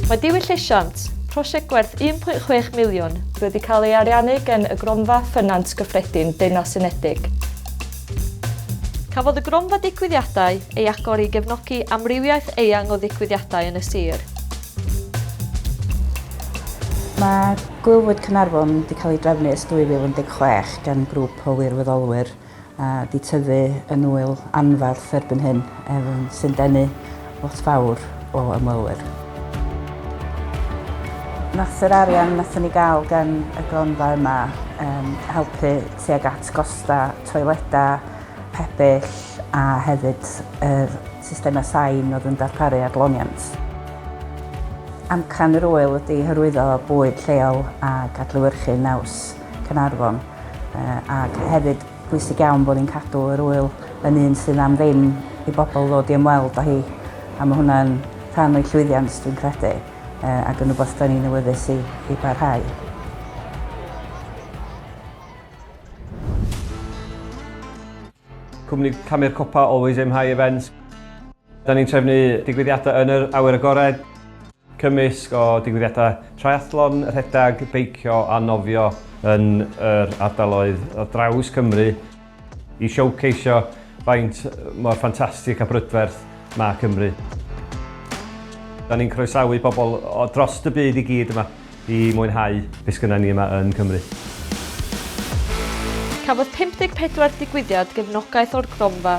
Mae Diwylliant, prosiect gwerth 1.6 miliwn, wedi cael ei ariannu gan y Gronfa Ffynons Gyffredin Deyrnas Unedig. Cafodd y Gronfa Digwyddiadau ei agor i gefnogi amrywiaeth eang o ddigwyddiadau yn y sir. Mae Gwyl Fwyd Caernarfon wedi cael ei drefnu ers 2016 gan grŵp o wirfoddolwyr a 'di tyfu yn ŵyl anferth erbyn hyn, sy'n denu lot fawr o ymwelwyr. Nath yr arian nathon ni gael gan y gronfa yma helpu tuag at gosta toileda, pebyll a hefyd yr systemau sain oedd yn darparu adloniant. Amcan yr ŵyl ydi hyrwyddo bwyd lleol ac adlewyrchu naws Caernarfon ac hefyd pwysig iawn bod ni'n cadw yr ŵyl yn un sydd am ddim i bobl ddod i ymweld â hi a mae hwnna'n rhan o'i llwyddiant dwi'n credu ac yn rhywbeth da ni'n awyddus i, i barhau. Cwmni Camu'r Copa Always Aim High Events. Da ni'n trefnu digwyddiadau yn yr awyr agored. Cymysg o digwyddiadau triathlon, rhedeg, beicio a nofio yn yr ardaloedd ar draws Cymru i showceisio faint mor ffantastig a brydferth mae Cymru. Da ni'n croesawu pobl o drost y byd i gyd yma i mwynhau be sgynna ni yma yn Cymru. Cafodd 54 digwyddiad gefnogaeth o'r Gronfa.